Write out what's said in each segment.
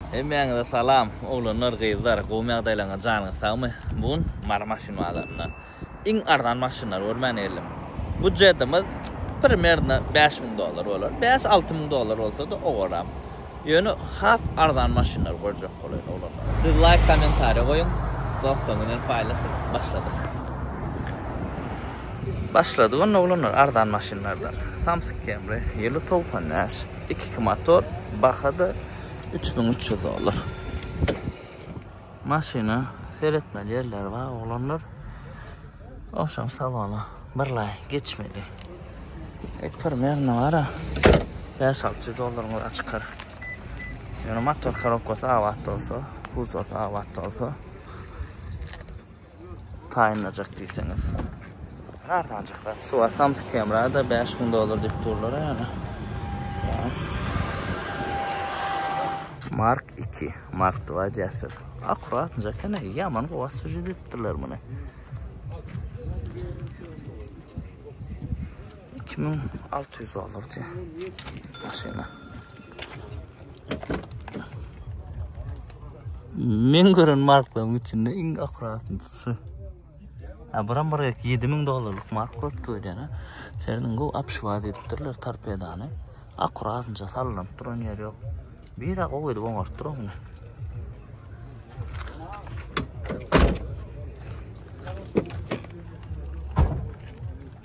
Hemmäňize salam oglanlar gyzlar gowmy ýagdaýlaryňyz janyňyz sagmy bu gün Mary maşyn bazarynda iň arzan maşynlary görmän geldim budjetimiz primerno bäş müň dollar bolar bäş alty müň dollar bolsada owaram ýöne has arzan maşynlary görjek bolaýyn oglanlar. Siz laýk kommentariýa goýuň dostlaryňyz bilen paýlaşyň başladyk. Başladyk onda oglanlar arzan maşynlardan samsyk kemri ýyly togsan bäş iki iki motor bahada Üç müň üç ýüz dollar. Maşyna seretmeli ýerler bar oglanlar. Owşam salona birlaý geçmeli. Et primerne bara. Bäş alty ýüz dollaryň ora çykar. Ýöne motor korobkasy abat bolsa, kuzosy abat bolsa. Taýynlajak diýseňiz. Arzanjak zat. Şu wagt Samsung kamera-da 5000 dollar diýip durlar ýaly. Mark 2, Mark 2 diýäsler. Akkuratnja kene, ýaman gowa süjet etdiler muny. Iki müň alty ýüz dollar diýýär. Maşyna. Men gören marklaryň içinde iň akratynsy. Ha, buram bir 7 müň dollarlyk mark köpdi öýdene. Seriniň bu apşwaz edipdirler torpedany. Akuratynca sallanıp duran ýer ýok. Bira gowy edip oňartdyp duran.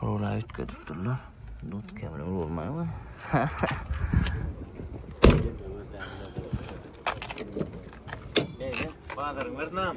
Howla üýtgedip durlar. Dut kemine vurmaýar we. Bazaryň bir nam.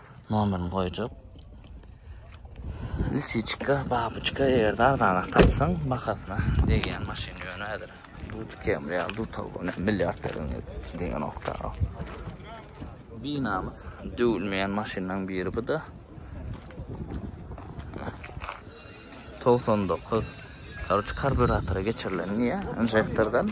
Nomerini goýjak. Lisiçka, babyçka, eger de arzanak tapsaň, bahasyna degýän maşyn ýöne häzir. Duty Camry ýa Duty ne milyard degen degen okda. Binamyz döwülmeýän maşynlaryň biri bu da. 99. Karoç karburatora geçirilen diýä, injektordan.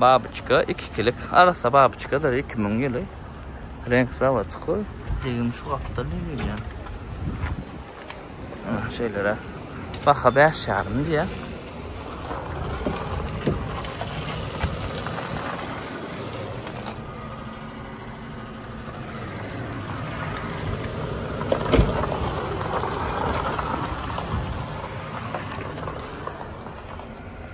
Babyçka ikikilik arassa babyçkadyr iki müň ýyly reňk zawodçyky. Jigim şu gapda ne gelýär. Ana şeýlere. Baha bäş ýarym diýýä.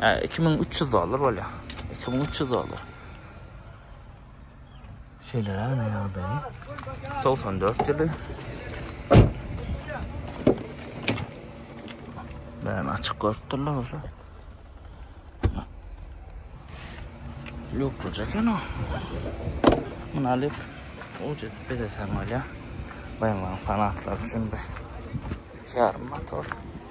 Hä, 2300 dollar bolýar. 2300 dollar. Şeýle näme ýagdaýy? 94 ýyly. Ben açyk görüp durlar bolsa. Lüklü çeken o. Bunu alyp, uca bedesen olya. Bayımların fanatlar için bir yarım motor.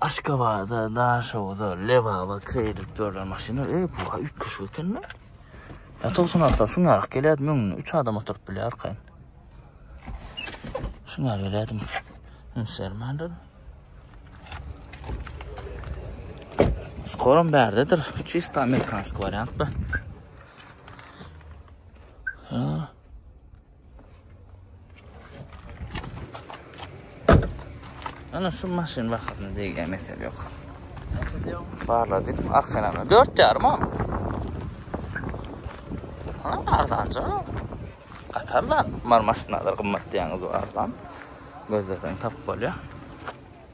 Aşgabada, Daşoguza, Lebaba kredit berlen maşynlar, eý, bu ha üýtgeşik ekeni. Ya 96 şun ýarak gelýärdi, müňüne 3 adam oturyp bilýär arkaýyn. Şun ýarak gelýärdim. Üns bermändir. Skorom bärdedir. Çista amerikansk wariant bu. Ha. Ana şu maşyn vaxtında deýilýän mesele ýok. Barladyk, aksenana 4 ýarym ha. Ha, arzanja. Katardan mar maşynlar gymmat diýýäňiz arzan. Gözlesen tapyp bolýar.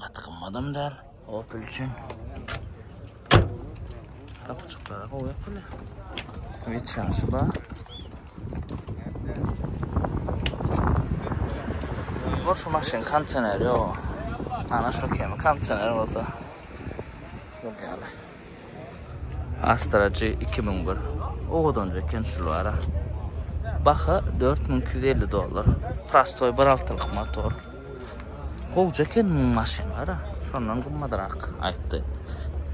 Gaty gymmadam däl. Opel üçin. Kapçyklara goýup bile. Weçanşy bar. Bu şu maşyn kondisioner ýok. Ana şu kemi kondisioner bolsa. Bu ýaly. Astra G 2001. Owadanja eken şul ara. Baha 4250 dollar. Prostoy bir altylyk motor. Gowja eken bu maşyn ara. Şondan gymmadrak aýtdy.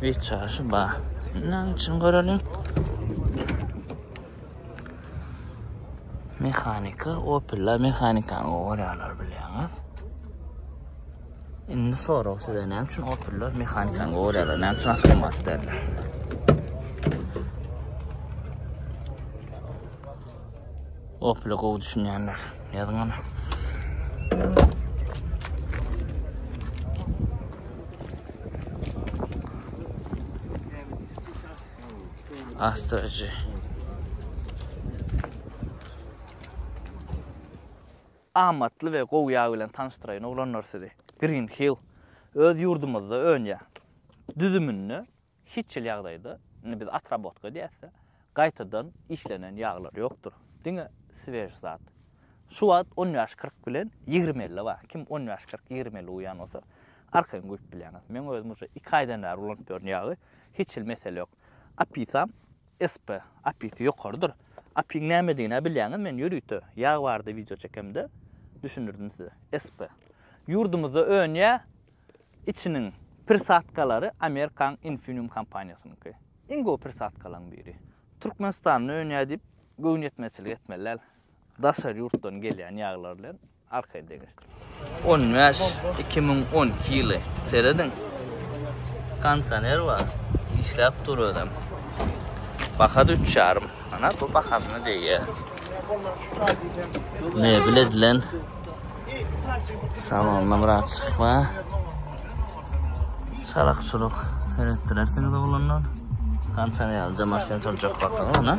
Wiçaşy ba. Näme üçin görelim? Mehanika, Opel mehanikany görýärler bilýäňiz. Indi sorag size näme üçin opellar mehanikany gorýarlar, näme üçin avtomat derler? Opel gowy düşünýänler. Ýazyň ana. Astarcı. Amatly we gowy ýag bilen tanyşdyraýyn oglanlar sizi. Green Hill öz ýurdumyzda önýär. Düzüminde hiç hil ýagdaýda, indi biz otrabotka diýäs-de, gaýtadan işlenen ýaglar ýokdur. Diňe swej zat. Şu wagt on bäş kyrk bilen ýigrimi elli bar. Kim on bäş kyrk ýigrimi elli uýýan bolsa, arkaýyn guýup bilýäňiz. Meň özüm uje iki aýdan bäri ulanyp ýörün ýagy, hiç hil mesele ýok. Opisam SP, API-si ýokarydyr. API-iň nämedigini-ä bilýäňiz, men ýörite ýag barada wideo çekemde düşündirdim size. SP. Ýurdumyzda önýä, içiniň prisadkalary Amerikaň Infineum kompaniýasynyňky. Iň gowy prisadkalaryň biri. Türkmenistanda önýä diýip göwnüýetmezçilik etmeli däl, daşary ýurtdan gelýän ýaglar bilen. Arkaýyn deňeşdir. On bäş iki müň on iki ýyly serediň. Kondisioner bar. Işläp dur özem. Baha da üç ýarym manat. Bu bahasyna degýär. Mebel edilen. Salonda bir açyk bar. Salak çuluk seretdirersiniz oglanlar. Kondisioner alacak maşyn turacak bakalım. Ana.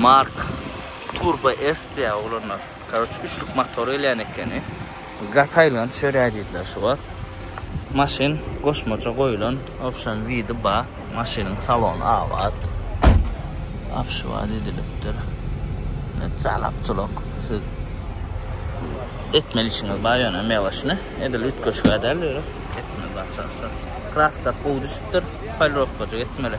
Mark turbo S diýýär oglanlar. Karoç üçlük motor gelýän ekeni. Gataýylgan çörä diýdiler şu wagt. Maşyn goşmaça goýulan option widi bar. Maşynyň salony abat. Apşywat edilipdir. Jalak julak siz etmeli işiňiz bar ýöne meloşny edil üýtgeşgä däl ýöne etmeli başarsa. Kraskasy gowy düşüpdir. Polirowkajyk etmeli.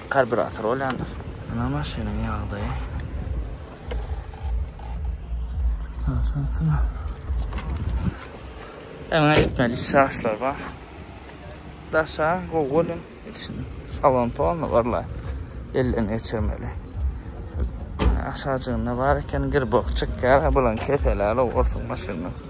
Karburator bolýandyr. Ynha maşynyň ýagdaýy. Aşansana. Öňe gitmeli şaşlar bar. Daşa gowy görýän. Içini salon tolna barla. Elden geçirmeli. Aşajygynda bar eken girbok çykýar. Bulan keseler olsun maşynyň.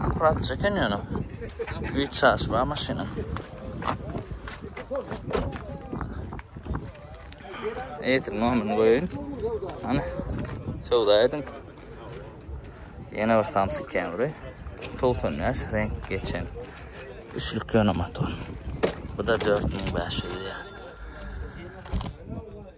Akurat çeken ýöne. Üç çaş bar maşyna. Eýtir nomini goýun. Ana. Söwda ediň. Ýene bir samsyk kemri. 90 ýaş renk geçen. Üçlük ýöne motor. Bu da 4500 ýa.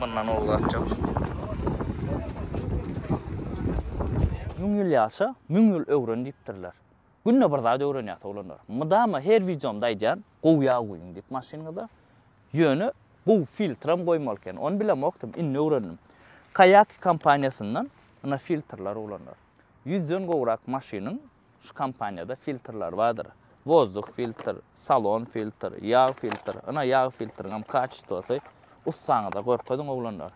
Mundan ol gaçjak. Müň ýyl ýaşa, müň ýyl öwren diýipdirler. Günde bir zat öwrenýäs oglanlar. Mydama her wideomda aýdýan, gowy ýag guýuň diýip maşynyňyza. Ýöne gowy filtram goýmaly eken. Ony bilemokdym, indi öwrendim. Kayaki kompaniýasyndan ynha filtrler oglanlar. Ýüzden gowrak maşynyň Şu kompaniýada filtrler bardyr. Wozduk filtr, salon filtr, ýag filtr. Ynha ýag filtriňem kaçestwosy ussaňyza görkeziň oglanlar.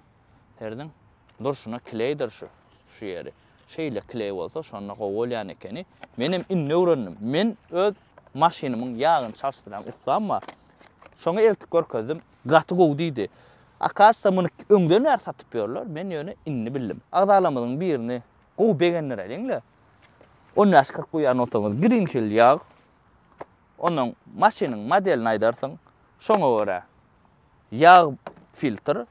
Serediň. Durşuna kleýdir şu. Şu ýeri. Şeýle kleý bolsa şonda gowy bolýan ekeni. Menem indi öwrendim. Men öz maşynymyň ýagyny çalşdyrýan ussam bar. Şoňa eltip görkezdim. Gaty gowy diýdi. Akasda muny öňden bäri satyp ýörler. Men ýöne indi bildim. Agzalarymyzyň birini Gowy begendir ediňle. On bäş kyrk guýar notaňyz giriň hil ýag. Ondan maşynyň modelini aýdarsyň. Şoňa görä ýag filtr,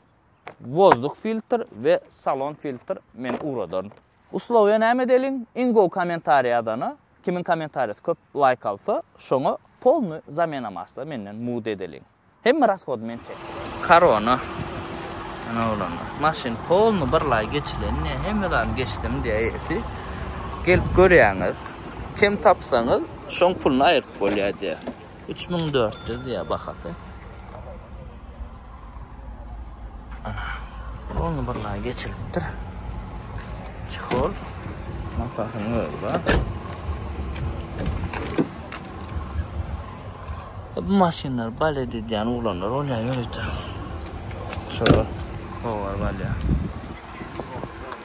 wozduk filtr we salon filtr men ugradaryn. Uslowiýa näme edeliň? Iň gowy kommentariý ýazana, kimiň kommentariýasy köp laýk alsa, şoňa polny zamena masla menden mugt edeliň. Hemme rasgod men çekdim. Korona Ene oglanlar. Maşyn polny bir lay geçilen ne hemme zany geçdim diye esi. Gelip görýäňiz. Kem tapsaňyz şoň puluny aýyryp bolýar diye. 3400 diye bahasy. Ana. Polny bir lay geçilipdir. Çihol. Matasynyň özi bar. Bu maşynlar balet edýän oglanlar bolýar ýörite. Şolar howar balýar.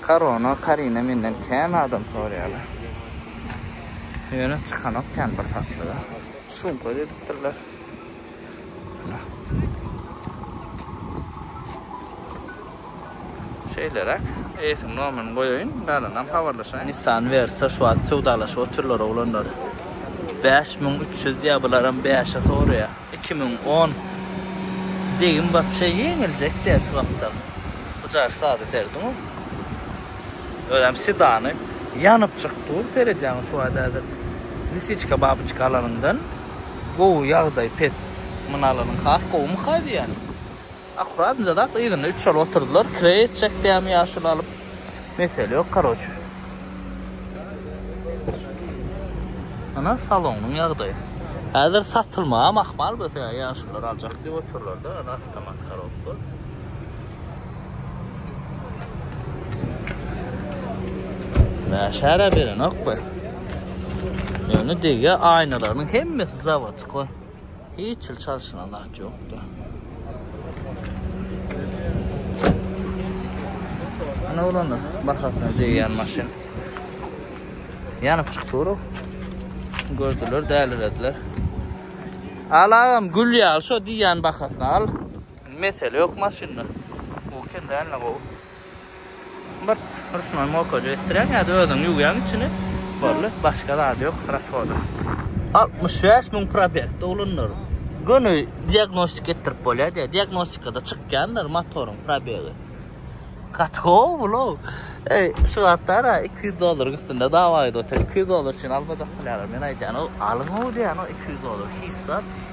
Korona, Karina menden kän adam soraýarlar. Ýöne çykanok kän bir satlyga. Sumka didikdirler. Ana. Şeýleräk, eýesiň nomerini goýaýyn, galanam habarlaşaýyn. Nissan Versa şu wagt söwdalaşyp otyrlar oglanlar. Bäş müň üç ýüz diýýär, bularam bäşe soraýar. Iki müň on. Degim wapşe ýeňiljek däl şu wagtda. Bu jaş sada serediň-ow. Özem sedany ýanypjyk dur, seredýäňiz şu wagt häzir. Lisiçka babyçka alanyňdan gowy, ýagdaý pes. Muny alanyň has gowymy-ha diýýän. Akurat yzak yzyna üç şaly oturdylar kire etjek dämi ýaşuly alyp mesele ýok karoçe. Ana salonyň ýagdaýy. Häzir satylmagam ahmal bolsa ýa ýaşulylar aljak diýip otyrlar da ana awtomat karobka. Näşärä berenok be. Ýöne degýär aýnalarynyň hemmesi zawodskoý. Hiç ýyl çalşyna zat ýokdy. Ana olanlar bahasyna degýän maşyn. Ýanyp çykdy ora. Gördüler, dälirediler. Alagam gül ýaly şo diýýän bahasyna al. Mesele ýok maşynda. Bu kim däl ne gowy. Bir rusnoý mokajyk etdirýäň ýa-da özüň ýuwýaň içini, boldy, başga zady ýok rashoda. Altmyş bäş müň probegde ulandyr. Göni diagnostika etdirip bolýar diýýär. Diagnostikada çykýandyr motoryň probegi. Gaty gowy bulaw. Eý, şu wagtlar-a iki ýüz dolluryň üstünde dawa edip otyr. Iki ýüz dollar üçin almajak bolýarlar. Men aýdýan, o, alyň-ow diýýän o iki ýüz dollar hiç zat.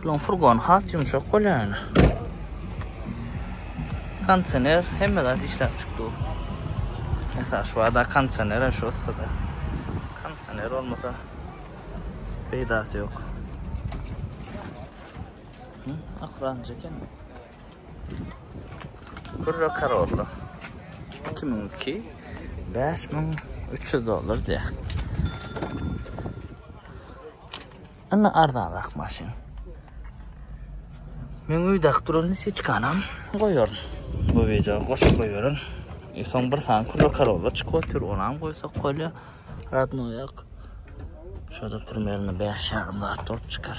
Şularyň furgony has ýumşak bolýar ýöne. Kondisioner hemme zat işläp çykdy. Esas şu ada kondisioner şu ussada. Kondisioner olmasa peýdasy ýok. Hı, akran çeken. Kurra Karolla. 2002 5300 dolar diye. Indi arzanrak maşyn. Men öýdäk duralny siçkanam goýaryn. Bu weja goşup goýaryn. E soň bir sany kürre karolla çykyp otyr, onam goýsak bolýa. Radnoýak. Şoda primerno 5 ýarym zat bolup çykar.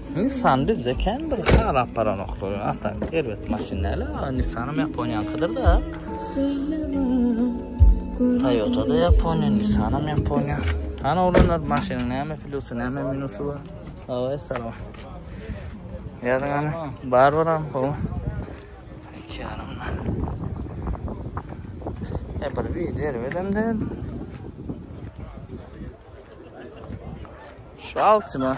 Nissan bizde kem bir halap baranoklar. Ata erbet maşyn näle? Nissanam Yaponiýankydyr-da. Toyota da Yaponiýa, Nissanam Yaponiýa. Ana olanlar maşynyň näme plusy, näme minusy bar? Away, salam. Ýazyň ana, bar baram, gowy. Iki ýarym. E bir video erbet hem däl. Şu altyma.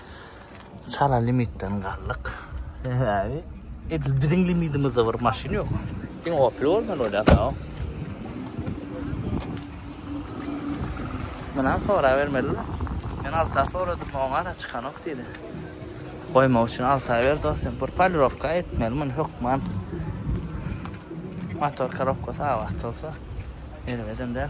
Çala limitden galdyk. Sebäbi edil biziň limidimizde bir maşyn ýok. Sen Opel bolman bolýar-da. Mundan sorap bermeli. Men alta soradym, oňa-da çykanok diýdi. Goýmak üçin alta ber dostum. Bir polirowka etmeli muny hökman. Motor korobka sag wagt bolsa, erbedem däl.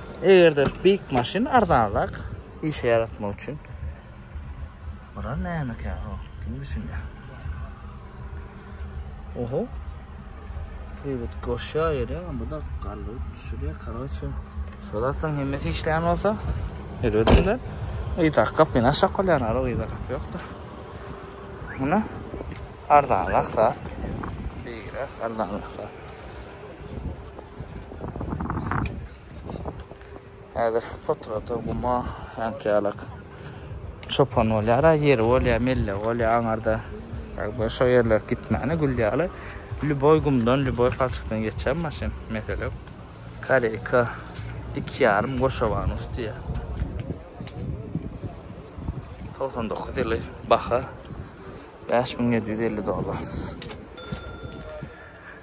Eger-de beýik maşyn arzanrak işe ýaratmak üçin. Bular nämekä o? Kim düşünýär? Oho. Privet goşýar ýere, bu da galdyryp düşürýär. Karoçe, şol atlaryň hemmesi işleýän bolsa, ýöredimde. Ýa da gapyny aşak bolýar, ara ýa da gapy ýokdur. Muny arzanrak zat. Beýik arzanrak zat. Häzir potrata guma häňkälak çopan bolýar, ýeri bolýar, melle bolýar, aňarda ýagdaý şo ýerler gitmäne gül ýaly. Lüboý gumdan, lüboý palçykdan geçýär maşyn, mesele ýok. Koreýka iki ýarym goşawanus diýýär. Togsan dokuz ýyly baha bäş müň ýedi ýüz elli dollar.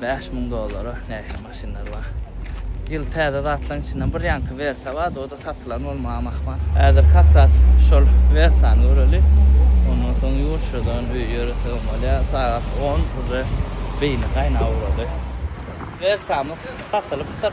Bäş müň dollara nähili maşynlar bar. Ýyl täze zatlaryň içinden bir ýaňky Versa bardy, o-da satylan bolmaga mahmal. Häzir kakras şol Versany göreli. Ondan soň ýurtçadan öýe ýöresegem bolýar. Sagat on, uje beýni gaýnap ugrady. Versamyz satylpdyr.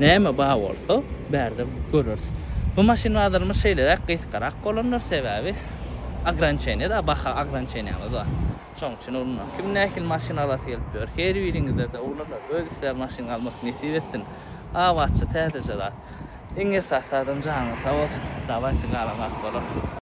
Näme bar bolsa, bärde göreris. Bu maşyn bazarymyz şeýleräk gysgarak bolandyr, sebäbi ograniçeniýa-da, baha ograniçeniýamyz bar. Şonuň üçin ulanýar. Kim nähili maşyn alasy gelip ýör, her biriňize-de ulanar, öz islär maşyn almak nesip etsin. Abatça, täzeje zat. Iň esasy zadam janyňyz sag bolsun. Dawaýçy galan zat bolar.